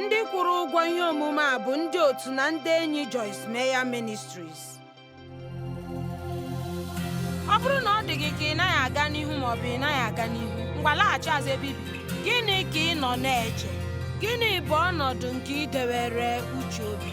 Ndị kwụrụ ụgwọ ihe omume a bụ ndị otu na ndị enyi Joyce Meyer Ministries. Ọ bụrụ na ọ dị gị ka ị naghị aga n'ihu ma ọ bụ ị naghị aga n'ihu, ngwa laghachi azụ ebe i bi. Gịnị ka ị nọ na-eche? Gịnị bụ ọnọdụ nke i dewere uche obi?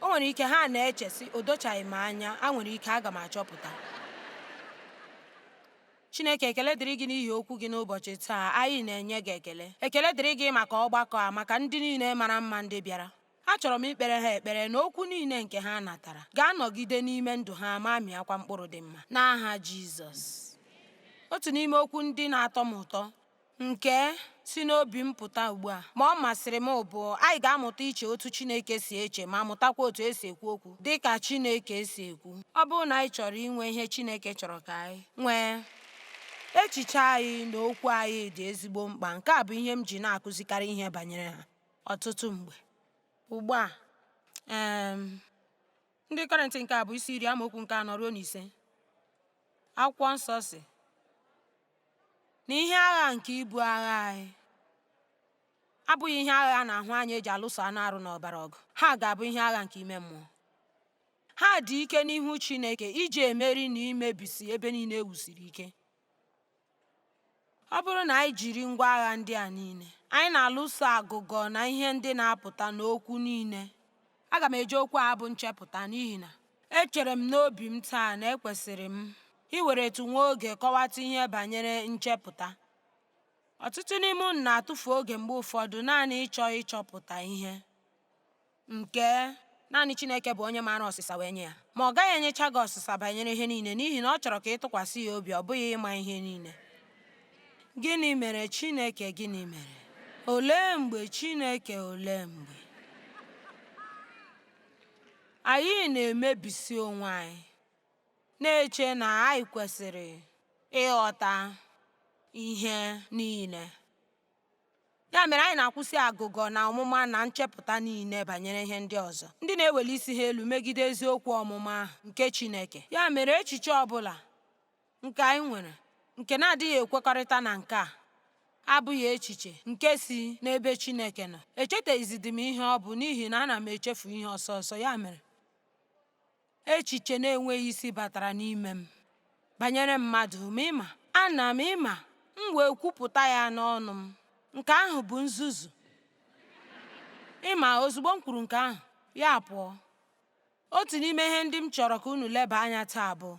o nwere ike ha na-eche sị o dochaghị m anya a nwere ike aga m achọpụta chineke ekele dịrị gị n'ihi okwu gị n'ụbọchị taa anyị na-enye gị ekele ekele dịrị gị maka ọgbakọ a maka ndị niile mara mma ndị bịara Achọrọ m ikpere ha ekpere na okwu niile nke ha natara ga-anọgide n'ime ndụ ha ma mịakwa mkpụrụ dị mma n'aha Jizọs. Otu n'ime okwu ndị na-atọ m ụtọ nke si n'obi m pụta ugbu a ma ọ masịrị m bụ anyị ga-amụta iche otu Chineke si eche ma mụtakwa otu e si ekwu okwu dị ka Chineke si ekwu. Ọ bụrụ na anyị chọrọ inwe ihe Chineke chọrọ ka anyị nwee echiche anyị na okwu anyị dị ezigbo mkpa nke a bụ ihe m ji na-akụzikarị ihe banyere ha ọtụtụ mgbe. Ugbu a, um Ndị Kọrịnt nke abụ isi iri amaokwu nke anọ ruo na ise, akwụkwọ nsọ sị na ihe agha nke ibu agha anyị abụghị ihe agha a na-ahụ anya e ji alụso anụ arụ na ọbara ọgụ, ha ga-abụ ihe agha nke ime mmụọ. Ha dị ike n'ihu Chineke iji emeri na imebisi ebe niile e wusiri ike. Ọ bụrụ na anyị jiri ngwa agha ndị a niile, anyị na-alụso agụgọ na ihe ndị na-apụta n'okwu niile. Aga m eji okwu a bụ nchepụta n'ihi na echere m n'obi m taa na ekwesịrị m iweretụ nwa oge kọwatụ ihe banyere nchepụta. Ọtụtụ n'ime unu na-atụfu oge mgbe ụfọdụ naanị ịchọ ịchọpụta ihe. nke naanị Chineke bụ onye maara ọsịsa wee nye ya ma ọ gaghị enyecha gị ọsịsa banyere ihe niile n'ihi na ọ chọrọ ka ị tụkwasị ya obi ọ bụghị ịma ihe niile gịnị mere Chineke gịnị mere olee mgbe Chineke olee mgbe anyị na-emebisi onwe anyị na-eche na anyị kwesịrị ịghọta ihe niile Ya mere anyị na-akwụsị agụgọ na ọmụma na nchepụta niile banyere ihe ndị ọzọ, ndị na-eweli isi ha elu megide eziokwu ọmụma ahụ nke Chineke. Ya mere echiche ọ bụla nke anyị nwere nke na-adịghị ekwekọrịta na nke a abụghị echiche nke si n'ebe Chineke nọ. Echetaghịzidị m ihe ọ bụ n'ihi na ana m echefu ihe ọsọ ọsọ. Ya mere Echiche na-enweghị isi batara n'ime m banyere mmadụ, ma ị ma, ana m, ị ma, m wee kwupụta ya n'ọnụ m. Nke ahụ bụ nzuzu. Ị ma, ozugbo m kwuru nke ahụ, ya pụọ. Otu n'ime ihe ndị m chọrọ ka unu leba anya taa bụ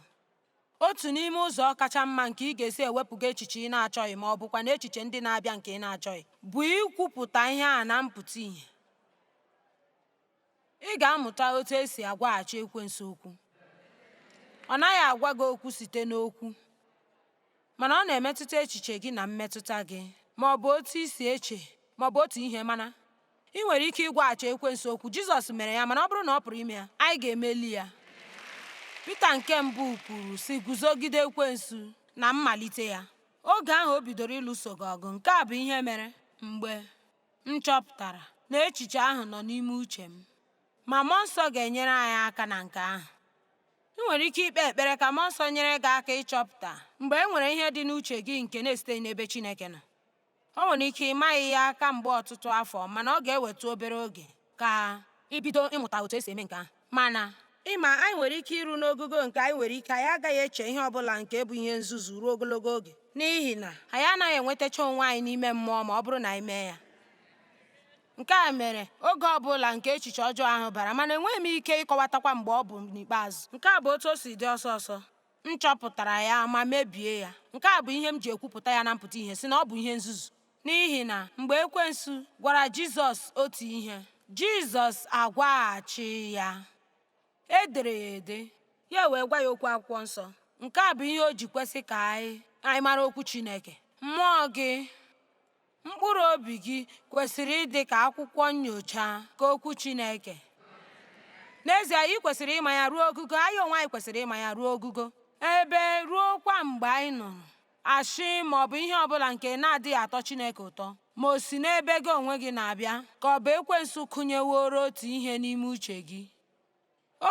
otu n'ime ụzọ kacha mma nke ị ga-esi ewepụga echiche ị na-achọghị ma ọ bụkwa na echiche ndị na-abịa nke ị na-achọghị bụ ikwupụta ihe a na mpụta ihe. Ị ga-amụta otu e si agwaghachi ekwensu okwu. Ọ naghị agwa gị okwu site n'okwu, mana ọ na-emetụta echiche gị na mmetụta gị, ma ọ bụ otu i si eche ma ọ bụ otu ihe mana ị nwere ike ịgwaghachi ekwensu okwu. Jizọs mere ya, mana ọ bụrụ na ọ pụrụ ime ya, anyị ga-emeli ya. Pita nke mbụ kwuru, sị Guzogide ekwensu na mmalite ya. Oge ahụ o bidoro ịlụso gị ọgụ, nke a bụ ihe mere mgbe M chọpụtara na echiche ahụ nọ n'ime uche m, ma Mmụọ Nsọ ga-enyere anyị aka na nke ahụ. Ị nwere ike ikpe ekpere ka Mmụọ Nsọ nyere gị aka ịchọpụta mgbe e nwere ihe dị n'uche gị nke na-esiteghị n'ebe Chineke nọ. O nwere ike ị maghị ya kamgbe ọtụtụ afọ, mana ọ ga-ewetụ obere oge. ka i bido ịmụta otu e si eme nke ahụ. Mana, ị ma, anyị nwere ike iru n'ogogo nke anyị nwere ike anyị agaghị eche ihe ọ bụla nke bụ ihe nzuzu ruo ogologo oge, n'ihi na anyị anaghị enwetacha onwe anyị n'ime mmụọ ma ọ bụrụ na anyị mee ya. Nke a mere oge ọ bụla nke echiche ọjọọ ahụ bara, mana enweghị m ike ịkọwatakwa mgbe ọ bụ n'ikpeazụ. Nke a bụ otu o si dị ọsọ ọsọ. M chọpụtara ya ma mebie ya. Nke a bụ ihe m ji ekwupụta ya na mpụta ihe, sị na ọ bụ ihe nzuzu. N'ihi na mgbe ekwensu gwara Jizọs otu ihe, Jizọs agwaghachi ya. E dere ya ede, ya wee gwa ya okwu akwụkwọ nsọ. Nke a bụ ihe o ji kwesi ka anyị mara okwu Chineke. Mmụọ gị, mkpụrụ obi gị kwesịrị ịdị ka akwụkwọ nyocha ka okwu Chineke. N'ezie, ị kwesịrị ịma ya ruo ogogo, anyị onwe anyị kwesịrị ịma ya ruo ogogo, ebe ruokwa mgbe anyị nụrụ ashị ma ọ bụ ihe ọ bụla nke na-adịghị atọ Chineke ụtọ, ma o si n'ebe gị onwe gị na-abịa ka ọ bụ ekwensu kụnyeworo otu ihe n'ime uche gị.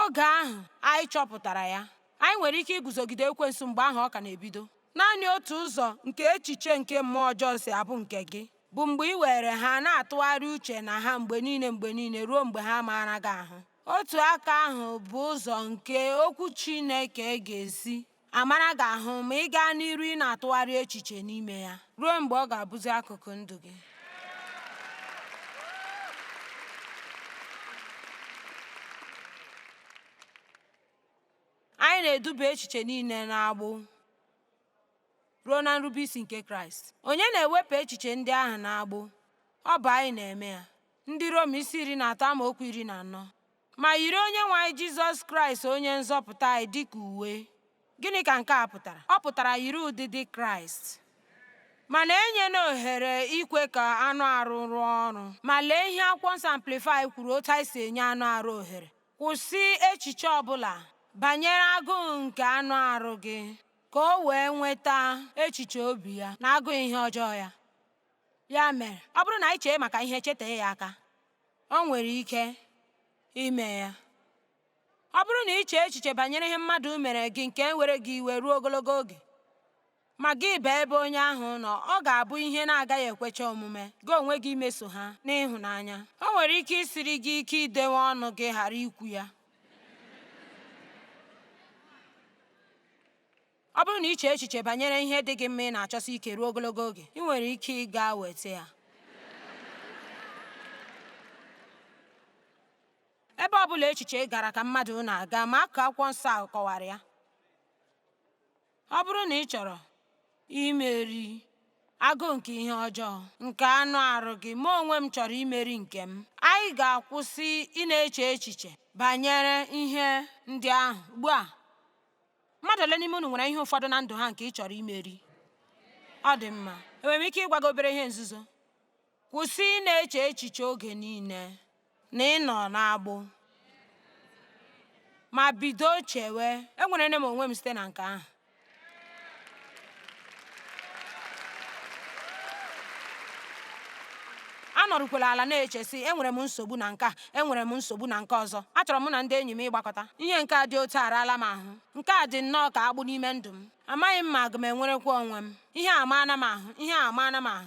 Oge ahụ anyị chọpụtara ya, anyị nwere ike iguzogide ekwensu mgbe ahụ ọ ka na-ebido. Naanị otu ụzọ nke echiche nke mmụọ ọjọọ si abụ nke gị bụ mgbe ị were ha na-atụgharị uche na ha mgbe niile mgbe niile ruo mgbe ha maara gị ahụ. Otu aka ahụ bụ ụzọ nke Okwu Chineke ga-esi amara gị ahụ ma ị gaa n'iru ị na-atụgharị echiche n'ime ya ruo mgbe ọ ga-abụzi akụkụ ndụ gị. Anyị na-eduba echiche niile n'agbụ ruo na nrubeisi nke Kraịst. Onye na-ewepụ echiche ndị ahụ n'agbụ? Ọ bụ anyị na-eme ya. Ndị Rom isi iri na atọ amaokwu iri na anọ ma yiri Onyenwe anyị Jizọs Kraịst Onye Nzọpụta anyị dị ka uwe. Gịnị ka nke a pụtara? Ọ pụtara yiri ụdịdị Kraịst. Mana enyena ohere ikwe ka anụ arụ rụọ ọrụ. Ma lee ihe Akwụkwọ Nsọ Amplify kwuru otu anyị si enye anụ arụ ohere. Kwụsị echiche ọ bụla banyere agụụ nke anụ arụ gị ka o wee nweta echiche obi ya na agụụ ihe ọjọọ ya. Ya mere, ọ bụrụ na anyị chee maka ihe chetee ya aka. O nwere ike ime ya. Ọ bụrụ na i chee echiche banyere ihe mmadụ mere gị nke were gị iwe ruo ogologo oge, ma gị baa ebe onye ahụ nọ, ọ ga-abụ ihe na-agaghị ekwecha omume gị onwe gị imeso ha n'ịhụnanya. O nwere ike isiri gị ike idewe ọnụ gị ghara ikwu ya. Ọ bụrụ na i chee echiche banyere ihe dị gị mma ị na-achọsi ike ruo ogologo oge, ị nwere ike ịga weta ya. Ebe ọ bụla echiche gara ka mmadụ na-aga ma akụkụ akwụkwọ nsọ ahụ kọwara ya. Ọ bụrụ na ị chọrọ imeri agụụ nke ihe ọjọọ nke anụ arụ gị, mụ onwe m chọrọ imeri nke m. Anyị ga-akwụsị ịna-eche echiche banyere ihe ndị ahụ ugbu a. Mmadụ ole n'ime unu nwere ihe ụfọdụ na ndụ ha nke ị chọrọ imeri? Ọ dị mma. Enwere m ike ịgwa gị obere ihe nzuzo? Kwụsị ịna-eche echiche oge niile na ị nọ n'agbụ ma bido chewe enwerela m onwe m site na nke ahụ. anọrụkwala ala na-eche sị enwere m nsogbu na nke a enwere m nsogbu na nke ọzọ achọrọ mụ na ndị enyi m ịgbakọta ihe nke a dị otu a araala m ahụ nke a dị nnọọ ka agbụ n'ime ndụ m amaghị m ma aga m enwerekwa onwe m ihe a amaana m ahụ ihe a amaana m ahụ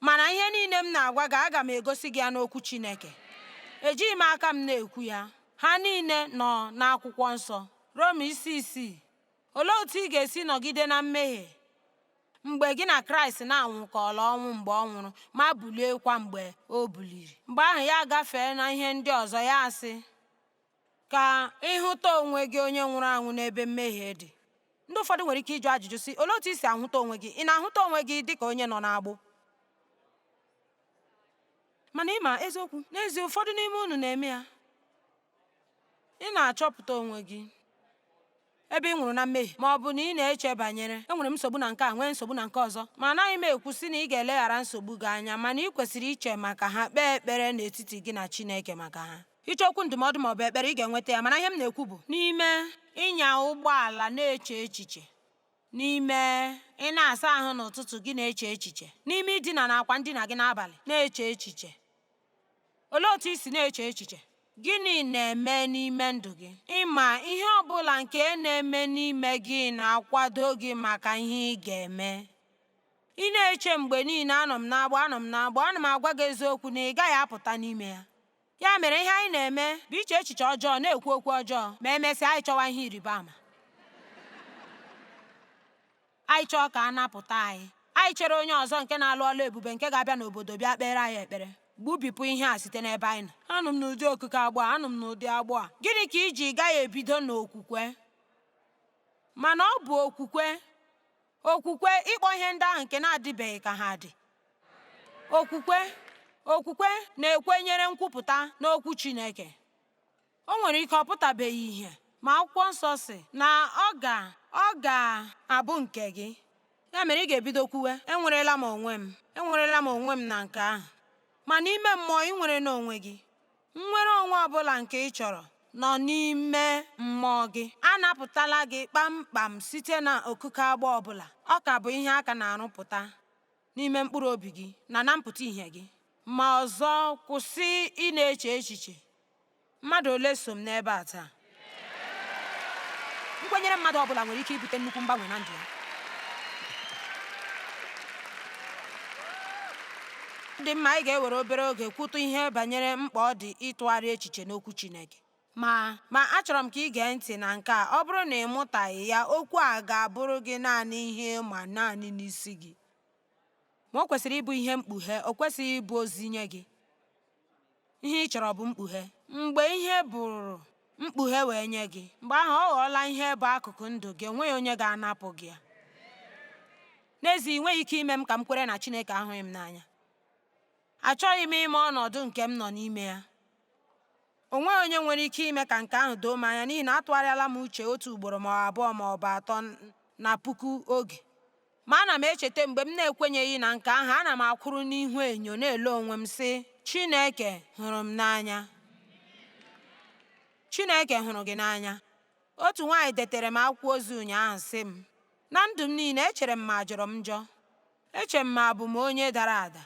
Mana ihe niile m na-agwa gị, aga m egosi gị ya n'okwu Chineke. Ejighị m aka m na-ekwu ya. Ha niile nọ n'akwụkwọ nsọ. Rom isi isii. Olee otu ị ga-esi nọgide na mmehie mgbe gị na Kraịst na-anwụkọọla ọnwụ mgbe ọ nwụrụ ma buliekwa mgbe o buliri? Mgbe ahụ ya agafee na ihe ndị ọzọ ya asị, ka ị hụta onwe gị onye nwụrụ anwụ n'ebe mmehie dị ndị ụfọdụ nwere ike ịjụ ajụjụ sị olee otu i si ahụta onwe gị ị na-ahụta onwe gị dị ka onye nọ n'agbụ mana ị ma eziokwu n'ezie ụfọdụ n'ime unu na-eme ya ị na-achọpụta onwe gị Ebe ị nwụrụ na mmehie ma ọ bụ na ị na-eche banyere, Enwere m nsogbu na nke a, nwee nsogbu na nke ọzọ. Ma anaghị m ekwu sị na ị ga-eleghara nsogbu gị anya, mana ị kwesịrị iche maka ha, kpee ekpere n'etiti gị na Chineke maka ha. Ị chọọ okwu ndụmọdụ ma ọ bụ ekpere, ị ga-enweta ya, mana ihe m na-ekwu bụ, n'ime ịnya ụgbọala na-eche echiche, n'ime ịna-asa ahụ n'ụtụtụ gị na-eche echiche, n'ime idina n'akwa ndina gị n'abalị na-eche echiche, Olee otu i si na-eche echiche? Gịnị na-eme n'ime ndụ gị? Ị ma ihe ọ bụla nke na-eme n'ime gị na-akwado gị maka ihe ị ga-eme? Ị na-eche mgbe niile anọ m n'agbụ anọ m n'agbụ ana m agwa gị eziokwu na ị gaghị apụta n'ime ya. Ya mere ihe anyị na-eme bụ iche echiche ọjọọ na-ekwu okwu ọjọọ ma emesịa anyị chọwa ihe ịrịba ama. Anyị chọọ ka a napụta anyị, anyị chere onye ọzọ nke na-alụ ọlụ ebube nke ga-abịa n'obodo bịa kpeere anyị ekpere. Gbubipụ ihe a site n'ebe anyị nọ. Anọ m n'ụdị okike agbụ a, anọ m n'ụdị agbụ a. Gịnị ka i ji gaghị ebido n'okwukwe? Mana ọ bụ okwukwe, okwukwe ịkpọ ihe ndị ahụ nke na-adịbeghị ka ha dị. Okwukwe na-ekwenyere nkwupụta n'okwu Chineke. O nwere ike ọ pụtabeghị ihe, ma Akwụkwọ Nsọ sị na ọ ga ọ ga-abụ nke gị. Ya mere ị ga-ebido kwuwe, enwerela m onwe m, enwerela m onwe m na nke ahụ. Ma n'ime mmụọ ị nwerela onwe gị. Nnwere onwe ọ bụla nke ị chọrọ nọ n'ime mmụọ gị. A napụtala gị kpamkpam site na okike agbụ ọ bụla. Ọ ka bụ ihe a ka na-arụpụta n'ime mkpụrụ obi gị na na mpụta ihe gị. Ma ọzọ, kwụsị ịna-eche echiche. Mmadụ ole so m n'ebe a taa? Nkwenyere mmadụ ọ bụla nwere ike ibute nnukwu mgbanwe na ndụ ya. dị mma anyị ga-ewere obere oge kwutụ ihe banyere mkpa ọ dị ịtụgharị echiche n'okwu Chineke ma achọrọ m ka ị gee ntị na nke a ọ bụrụ na ị mụtaghị ya okwu a ga-abụrụ gị naanị ihe ị ma naanị n'isi gị ma o kwesịrị ịbụ ihe mkpughe o kwesịghị ịbụ ozi nye gị Ihe ị chọrọ bụ mkpughe. Mgbe ihe bụrụ mkpughe wee nye gị, mgbe ahụ ọ ghọọla ihe bụ akụkụ ndụ gị, o nweghị onye ga-anapụ gị ya. N'ezie, ị nweghị ike ime m ka m kwere na Chineke ahụghị m n'anya. Achọghị m ịma ọnọdụ nke m nọ n'ime ya. O nweghị onye nwere ike ime ka nke ahụ doo m anya n'ihi na atụgharịala m uche otu ugboro ma ọ abụọ ma ọ bụ atọ na puku oge. Ma ana m echeta mgbe m na-ekwenyeghị na nke ahụ, ana m akwụrụ n'ihu enyo na-ele onwe m, sị, Chineke hụrụ m n'anya. Chineke hụrụ gị n'anya. Otu nwaanyị detere m akwụkwọ ozi ụnyaahụ sị m, Na ndụ m niile, echere m ma ajọrọ m njọ. Eche m ma abụ m onye dara ada.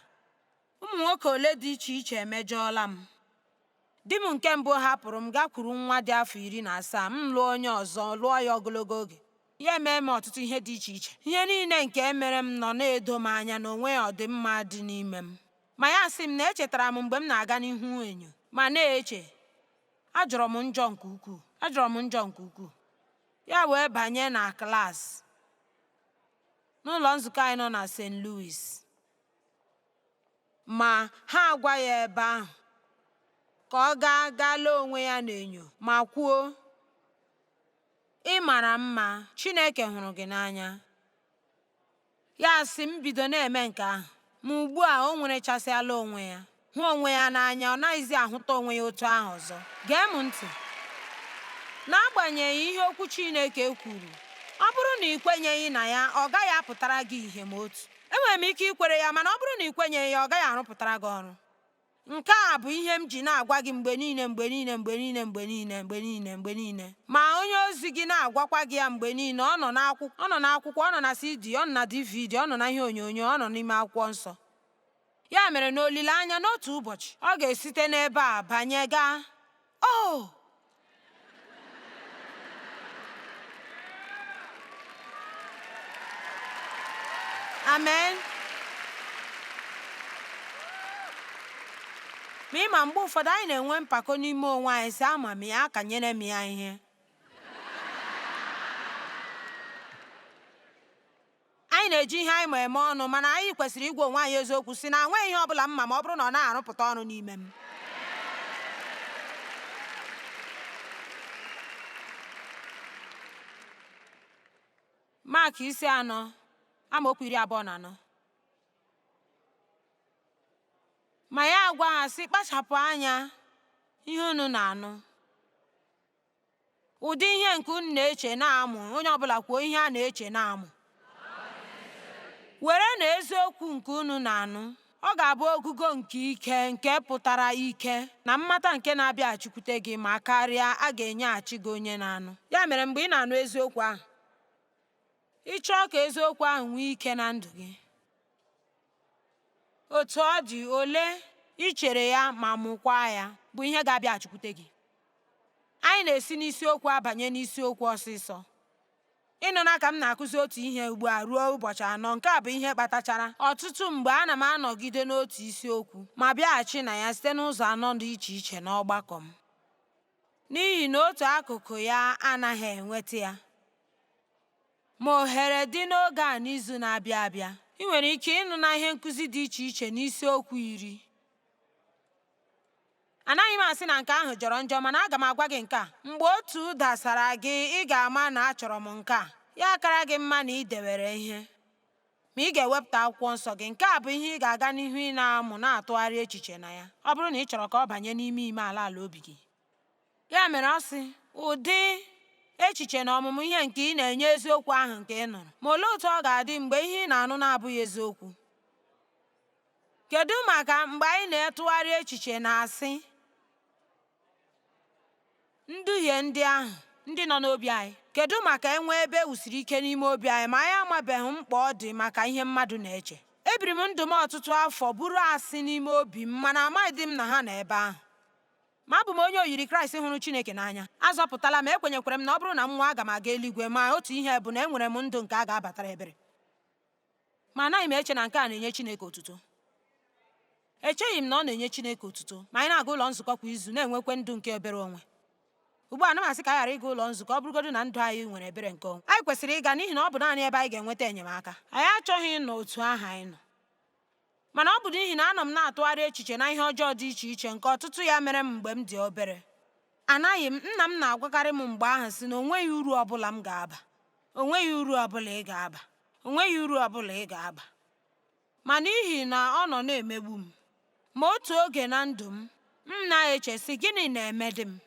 Ụmụ nwoke ole dị iche iche emejọọla m. Di m nke mbụ hapụrụ m gakwuru nwa dị afọ iri na asaa, m lụọ onye ọzọ, lụọ ya ogologo oge. ya emee m ọtụtụ ihe dị iche iche ihe niile nke e mere m nọ na-edo m anya na o nweghị ọdịmma dị n'ime m ma ya sị m na echetara m mgbe m na-aga n'ihu enyo ma na-eche ajọrọ m njọ nke ukwuu ajọrọ m njọ nke ukwuu ya wee banye na klaasị n'ụlọ nzukọ anyị nọ na St. Louis ma ha agwa ya ebe ahụ ka ọ gaa gaa lee onwe ya n'enyo ma kwuo Ị mara mma, Chineke hụrụ gị n'anya. Ya sị m bido na-eme nke ahụ, ma ugbu a o nwerechasịala onwe ya, hụ onwe ya n'anya, ọ naghịzi ahụta onwe ya otu ahụ ọzọ. Gee m ntị. N'agbanyeghị ihe okwu Chineke kwuru, ọ bụrụ na i kwenyeghị na ya, ọ gaghị apụtara gị ihe ma otu. Enwere m ike ikwere ya, mana ọ bụrụ na i kwenyeghị ya, ọ gaghị arụpụtara gị ọrụ. Nke a bụ ihe m ji na-agwa gị mgbe niile mgbe niile mgbe niile mgbe niile mgbe niile mgbe niile ma onye ozi gị na-agwakwa gị ya mgbe niile ọ nọ n'akwụkwọ ọ nọ n'akwụkwọ ọ nọ na CD ọ nọ na DVD ọ nọ na ihe onyonyo ọ nọ n'ime akwụkwọ nsọ ya mere n'olileanya n'otu ụbọchị ọ ga-esite n'ebe a banye gaa Oh! Amen. ma ị ma mgbe ụfọdụ anyị na-enwe mpako n'ime onwe anyị sị ama m ya akanyere m ya ihe Anyị na-eji ihe anyị ma eme ọnụ, mana anyị kwesịrị ịgwa onwe anyị eziokwu sị na enweghị ihe ọbụla m ma ma ọ bụrụ na ọ na-arụpụta ọrụ n'ime m. Mak isi anọ amaokwu iri abụọ na anọ ma ya agwa ha sị kpachapụ anya ihe unu na-anụ Ụdị ihe nke unu na-eche na-amụ, onye ọbụla kwuo ihe a na-eche na-amụ. Were na eziokwu nke unu na-anụ, ọ ga-abụ ogogo nke ike nke pụtara ike na mmata nke na-abịaghachikwute gị ma karịa a ga-enyeghachi gị onye na-anụ. Ya mere mgbe ị na-anụ eziokwu ahụ, ị chọọ ka eziokwu ahụ nwee ike na ndụ gị, Otu ọ dị, ole i chere ya ma mụkwaa ya bụ ihe ga-abịaghachikwute gị. Anyị na-esi n'isiokwu abanye n'isiokwu ọsịsọ. Ị nụna ka m na-akụzi otu ihe ugbu a ruo ụbọchị anọ, nke a bụ ihe kpatachara ọtụtụ mgbe ana m anọgide n'otu isiokwu ma bịaghachi na ya site n'ụzọ anọ dị iche iche n'ọgbakọ m, n'ihi na otu akụkụ ya anaghị enweta ya. Ma ohere dị n'oge a n'izu na-abịa abịa. Ị nwere ike ịnụ na ihe nkụzi dị iche iche n'isiokwu iri. Anaghị m asị na nke ahụ jọrọ njọ mana aga m agwa gị nke a, mgbe otu dasara gị ị ga-ama na achọrọ m nke a, ya akara gị mma na ị dewere ihe. Ma ị ga-ewepụta akwụkwọ nsọ gị, nke a bụ ihe ị ga-aga n'ihu ị na-amụ na-atụgharị echiche na ya, ọ bụrụ na ị chọrọ ka ọ banye n'ime ime ala ala obi gị. Ya mere ọ sị, ụdị echiche na ọmụmụ ihe nke ị na-enye eziokwu ahụ nke ị nụrụ. Ma olee otu ọ ga-adị mgbe ihe ị na-anụ na-abụghị eziokwu? Kedu maka mgbe anyị na-etụgharị echiche na asị nduhie ndị ahụ ndị nọ n'obi anyị? Kedu maka e nwee ebe e wusiri ike n'ime obi anyị ma anyị amabeghị mkpa ọ dị maka ihe mmadụ na-eche? Ebiri m ndụ m ọtụtụ afọ buru asị n'ime obi m mana amaghịdị m na ha nọ ebe ahụ. Ma abụ m onye oyiri Kraịst hụrụ Chineke n'anya. A zọpụtala m, ekwenyekwara m na ọ bụrụ na m nwụọ aga m aga eluigwe, ma otu ihe bụ na enwere m ndụ nke a ga-abatara ebere. Ma anaghị m eche na nke a na-enye Chineke otuto. Echeghị m na ọ na-enye Chineke otuto ma anyị na-aga ụlọ nzukọ kwa izu na-enwekwa ndụ nke ebere onwe. Ugbu a, anaghị m asị ka anyị ghara ịga ụlọ nzukọ ọ bụrụgodu na ndụ anyị nwere ebere nke onwe. Anyị kwesịrị ịga n'ihi na ọ bụ naanị ebe anyị ga-enweta enyemaka. Anyị achọghị ịnọ otu ahụ anyị nọ. Mana ọ bụ n'ihi na anọ m na-atụgharị echiche na ihe ọjọọ dị iche iche nke ọtụtụ ya mere m mgbe m dị obere. Anaghị m, nna m na-agwakarị m mgbe ahụ sị na o nweghị uru ọ bụla m ga-aba. O nweghị uru ọ bụla ị ga-aba. O nweghị uru ọ bụla ị ga-aba. Ma n'ihi na ọ nọ na-emegbu m. Ma otu oge na ndụ m, m na-eche sị gịnị na-emedị m?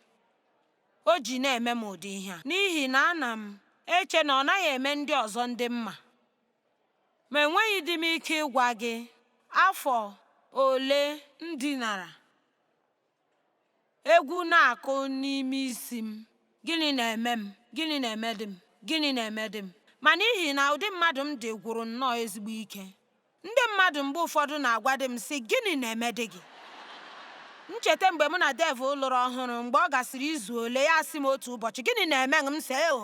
O ji na-eme m ụdị ihe a n'ihi na ana m eche na ọ naghị eme ndị ọzọ ndị mma. Ma enweghịdị m ike ịgwa gị afọ ole m dinara. Egwu na-akụ n'ime isi m. Gịnị na-eme m? Gịnị na-emedị m? Gịnị na-emedị m? Ma n'ihi na ụdị mmadụ m dị gwụrụ nnọọ ezigbo ike, ndị mmadụ mgbe ụfọdụ na-agwadị m, sị, Gịnị na-emedị gị? M cheta mgbe mụ na Dave lụrụ ọhụrụ, mgbe ọ gasịrị izu ole, ya asị m otu ụbọchị, Gịnị na-eme gị? M sị, Eo!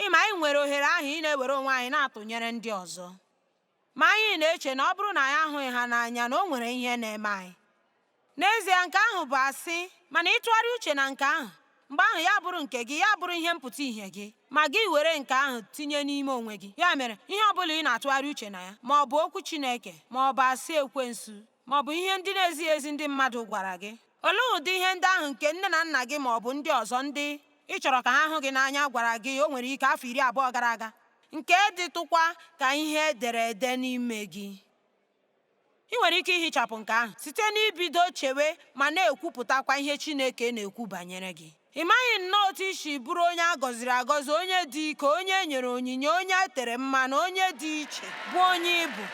ị ma anyị nwere ohere ahụ ị na-ewere onwe anyị na-atụnyere ndị ọzọ ma anyị na-eche na ọ bụrụ na anyị ahụghị ha n'anya na o nwere ihe na-eme anyị n'ezie nke ahụ bụ asị mana ịtụgharị uche na nke ahụ mgbe ahụ ya bụrụ nke gị ya bụrụ ihe mpụta ihe gị ma gị ewere nke ahụ tinye n'ime onwe gị ya mere ihe ọ bụla ị na-atụgharị uche na ya ma ọ bụ okwu Chineke ma ọ bụ asị ekwensu ma ọ bụ ihe ndị na-ezighị ezi ndị mmadụ gwara gị? Olee ụdị ihe ndị ahụ nke nne na nna gị ma ọ bụ ndị ọzọ ndị ị chọrọ ka ha hụ gị n'anya gwara gị o nwere ike afọ iri abụọ gara aga, nke dịtụkwa ka ihe e dere ede n'ime gị? Ị nwere ike ihichapụ nke ahụ site n'ibido chewe ma na-ekwupụtakwa ihe Chineke na-ekwu banyere gị. Ị maghị nnọọ otu i si bụrụ onye a gọziri agọzi, onye dị ike, onye e nyere onyinye, onye e tere mmanụ, onye dị iche, bụ onye ị bụ.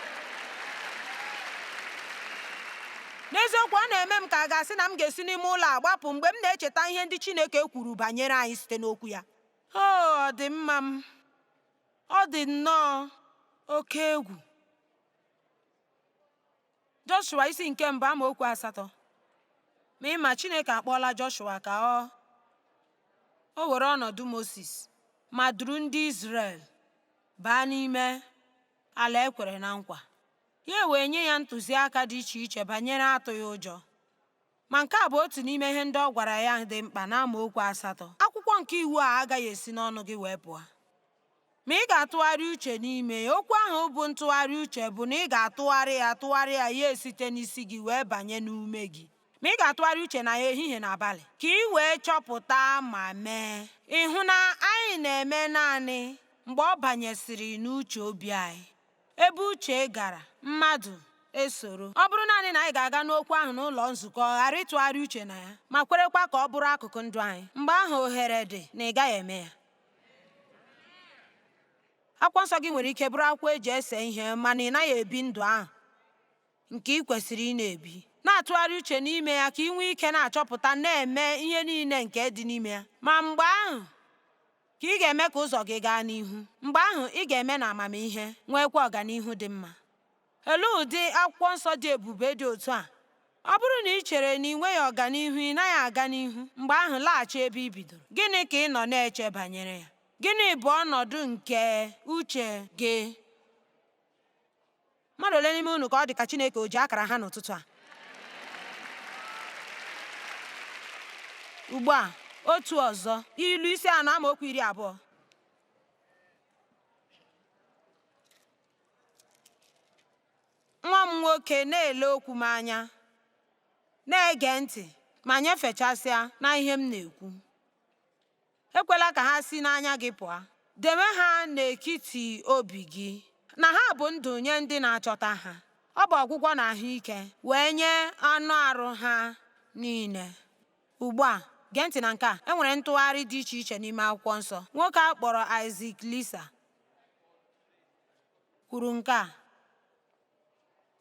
N'eziokwu, ọ na-eme m ka a ga-asị na m ga-esi n'ime ụlọ a gbapụ mgbe m na-echeta ihe ndị Chineke kwuru banyere anyị site n'Okwu ya. O, ọ dị mma m. Ọ dị nnọọ oke egwu. Joshua isi nke mbụ amaokwu asatọ ma ị ma Chineke akpọọla Joshua ka ọ o were ọnọdụ Moses ma duru ndị Izrel baa n'ime ala e kwere na nkwa ya wee nye ya ntụziaka dị iche iche banyere atụghị ụjọ Ma nke a bụ otu n'ime ihe ndị ọ gwara ya dị mkpa n'amaokwu asatọ, Akwụkwọ nke iwu a agaghị esi n'ọnụ gị wee pụọ. Ma ị ga-atụgharị uche n'ime ya. Okwu ahụ bụ ntụgharị uche bụ na ị ga-atụgharị ya tụgharịa ya ya esite n'isi gị wee banye n'ume gị. Ma ị ga-atụgharị uche na ya ehihie na abalị ka ị wee chọpụta ma mee. Ị hụ na anyị na-eme naanị mgbe ọ banyesịrị n'uche obi anyị. Ebe uche gara, mmadụ esoro. Ọ bụrụ naanị na anyị ga-aga nụ okwu ahụ n'ụlọ nzukọ, ghara ịtụgharị uche na ya, ma kwerekwa ka ọ bụrụ akụkụ ndụ anyị, mgbe ahụ ohere dị na ị gaghị eme ya. Akwụkwọ nsọ gị nwere ike bụrụ akwụkwọ e ji ese ihe mana ị naghị ebi ndụ ahụ nke ị kwesịrị ịna-ebi na-atụgharị uche n'ime ya ka ị nwee ike na-achọpụta na-eme ihe niile nke dị n'ime ya ma mgbe ahụ ka ị ga-eme ka ụzọ gị gaa n'ihu. Mgbe ahụ, ị ga-eme na amamihe, nweekwa ọganihu dị mma. Olee ụdị akwụkwọ nsọ dị ebube dị otu a? Ọ bụrụ na ị chere na ị nweghị ọganihu, ị naghị aga n'ihu, mgbe ahụ laghachi ebe ị bidoro. Gịnị ka ị nọ na-eche banyere ya? Gịnị bụ ọnọdụ nke uche gị? Mmadụ ole n'ime unu ka ọ dị ka Chineke o ji akara ha n'ụtụtụ a? Ugbu a, otu ọzọ, Ilu isi anọ amaokwu iri abụọ. Nwa m nwoke na-ele okwu m anya, na-ege ntị ma nyefechasịa na ihe m na-ekwu. Ekwela ka ha si n'anya gị pụọ. Dewe ha n'etiti obi gị, na ha bụ ndụ nye ndị na-achọta ha. Ọ bụ ọgwụgwọ na ahụ ike wee nye anụ arụ ha niile. Ugbu a, gee ntị na nke a, e nwere ntụgharị dị iche iche n'ime Akwụkwọ Nsọ. Nwoke a kpọrọ Isaac Leeser kwuru nke a,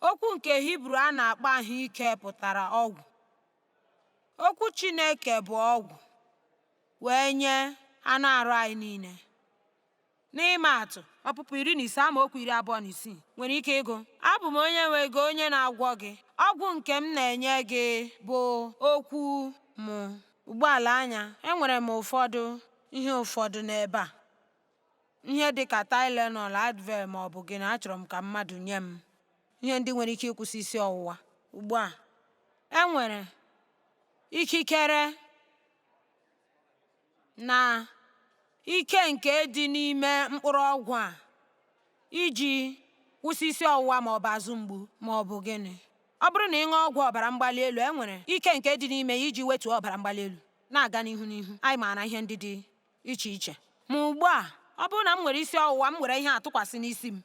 Okwu nke Hibru a na-akpọ ahụ ike pụtara ọgwụ. Okwu Chineke bụ ọgwụ wee nye anụ arụ anyị niile. N'ịma atụ, Ọpụpụ iri na ise amaokwu iri abụọ na isii nwere ike ịgụ abụ m onye nwe gị onye na-agwọ gị ọgwụ nke m na-enye gị bụ okwu m. Ugbu a lee anya, enwere m ụfọdụ ihe ụfọdụ n'ebe a. ihe dị ka Tylenol, Advil ma ọ bụ gịnị achọrọ m ka mmadụ nye m ihe ndị nwere ike ịkwụsị isi ọwụwa ugbu a e nwere ikikere na ike nke dị n'ime mkpụrụ ọgwụ a iji kwụsị isi ọwụwa ma ọ bụ azụ mgbu ma ọ bụ gịnị ọ bụrụ na ị ṅụọ ọgwụ ọbara mgbali elu e nwere ike nke dị n'ime ya iji wetuo ọbara mgbali elu na-aga n'ihu n'ihu anyị maara ihe ndị dị iche iche. Ma ugbu a, ọ bụrụ na m nwere isi ọwụwa, m were ihe a tụkwasị n'isi m.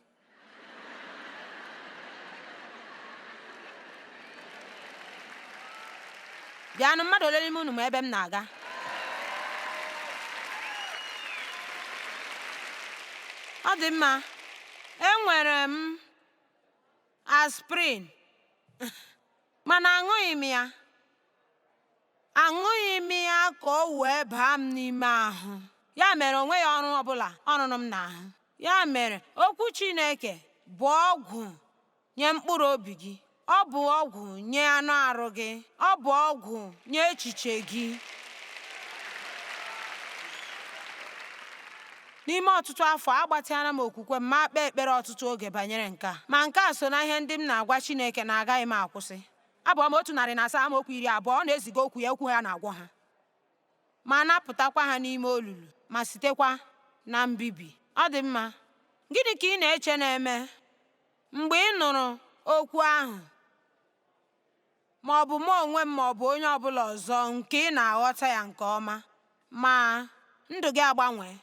Bịanụ, mmadụ ole n'ime unu ma ebe m na-aga? Ọ dị mma, enwere m aspirin, mana aṅụghị m ya. Aṅụghị m ya ka o wee baa m n'ime ahụ. Ya mere o nweghị ọrụ ọ bụla ọ rụrụ m n'ahụ. Ya mere okwu Chineke bụ ọgwụ nye mkpụrụ obi gị. Ọ bụ ọgwụ nye anụ arụ gị. Ọ bụ ọgwụ nye echiche gị. N'ime ọtụtụ afọ, agbatịala m okwukwe m ma kpee ekpere ọtụtụ oge banyere nke a. Ma nke a so na ihe ndị m na-agwa Chineke na agaghị m akwụsị. Abụ ọma otu narị na asaa amaokwu iri abụọ ọ na-eziga okwu ya okwu ya na-agwọ ha ma napụtakwa ha n'ime olulu ma sitekwa na mbibi. Ọ dị mma, gịnị ka ị na-eche na-eme mgbe ị nụrụ okwu ahụ ma ọ bụ mụ onwe m ma ọ bụ onye ọ bụla ọzọ nke ị na-aghọta ya nke ọma ma ndụ gị agbanwee?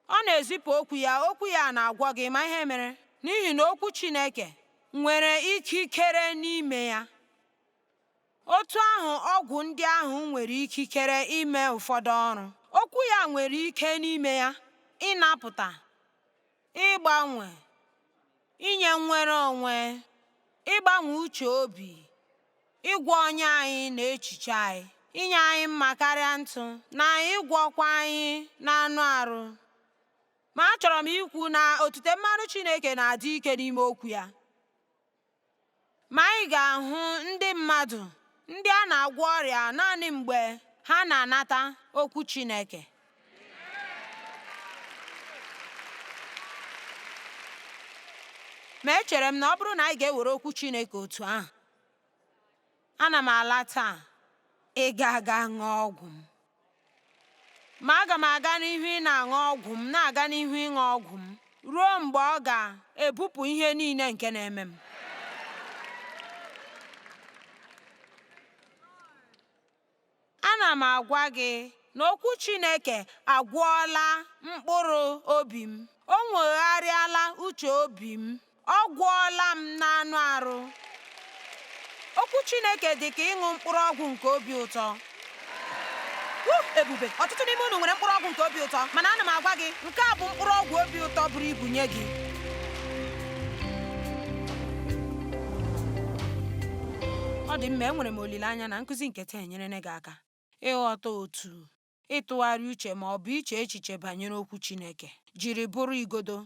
Ọ na-ezipụ okwu ya, okwu ya na-agwọ gị. Ị ma ihe mere, n'ihi na okwu Chineke nwere ikikere n'ime ya. Otu ahụ ọgwụ ndị ahụ nwere ikikere ime ụfọdụ ọrụ, okwu ya nwere ike n'ime ya ịnapụta, ịgbanwe, inye nnwere onwe, ịgbanwe uche obi, ịgwọ ọnya anyị na echiche anyị, inye anyị mma karịa ntụ, na ịgwọkwa anyị n'anụ arụ. Ma achọrọ m ikwu na otute mmanụ Chineke na-adị ike n'ime okwu ya. Ma anyị ga-ahụ ndị mmadụ ndị a na-agwọ ọrịa naanị mgbe ha na-anata okwu Chineke. Ma echere m na ọ bụrụ na anyị ga-ewere okwu Chineke otu ahụ, Ana m ala taa ịga aga ṅụọ ọgwụ m. Ma aga m aga n'ihu ịna-aṅụ ọgwụ m, na-aga n'ihu ịṅụ ọgwụ m ruo mgbe ọ ga-ebupụ ihe niile nke na-eme m. Ana m agwa gị na okwu Chineke agwọọla mkpụrụ obi m. O nwogharịala uche obi m. Ọ gwọọla m n'anụ arụ. Okwu Chineke dị ka ịṅụ mkpụrụ ọgwụ nke obi ụtọ. Woo! Ebube! Ọtụtụ n'ime unu nwere mkpụrụ ọgwụ nke obi ụtọ, mana ana m agwa gị, nke a bụ mkpụrụ ọgwụ obi ụtọ buru ibu nye gị. Ọ dị mma, enwere m olileanya na nkụzi nke taa enyerela gị aka ịghọta otu ịtụgharị uche ma ọ bụ iche echiche banyere okwu Chineke jiri bụrụ igodo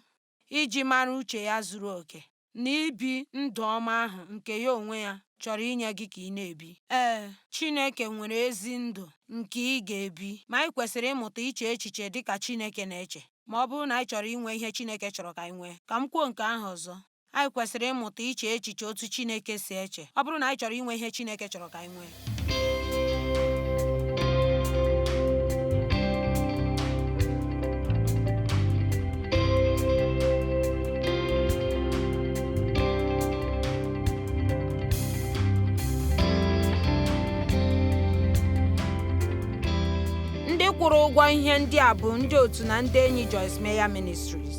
iji mara uche ya zuru oke na ibi ndụ ọma ahụ nke ya onwe ya chọrọ inye gị ka ị na-ebi. Ee, Chineke nwere ezi ndụ nke ị ga-ebi, ma anyị kwesịrị ịmụta iche echiche dị ka Chineke na-eche ma ọ bụrụ na anyị chọrọ inwe ihe Chineke chọrọ ka anyị nwee. Ka m kwuo nke ahụ ọzọ, Anyị kwesịrị ịmụta iche echiche otu Chineke si eche ọ bụrụ na anyị chọrọ inwe ihe Chineke chọrọ ka anyị nwee. Ndị kwụrụ ụgwọ ihe ndị a bụ ndị otu na ndị enyi Joyce Meyer Ministries.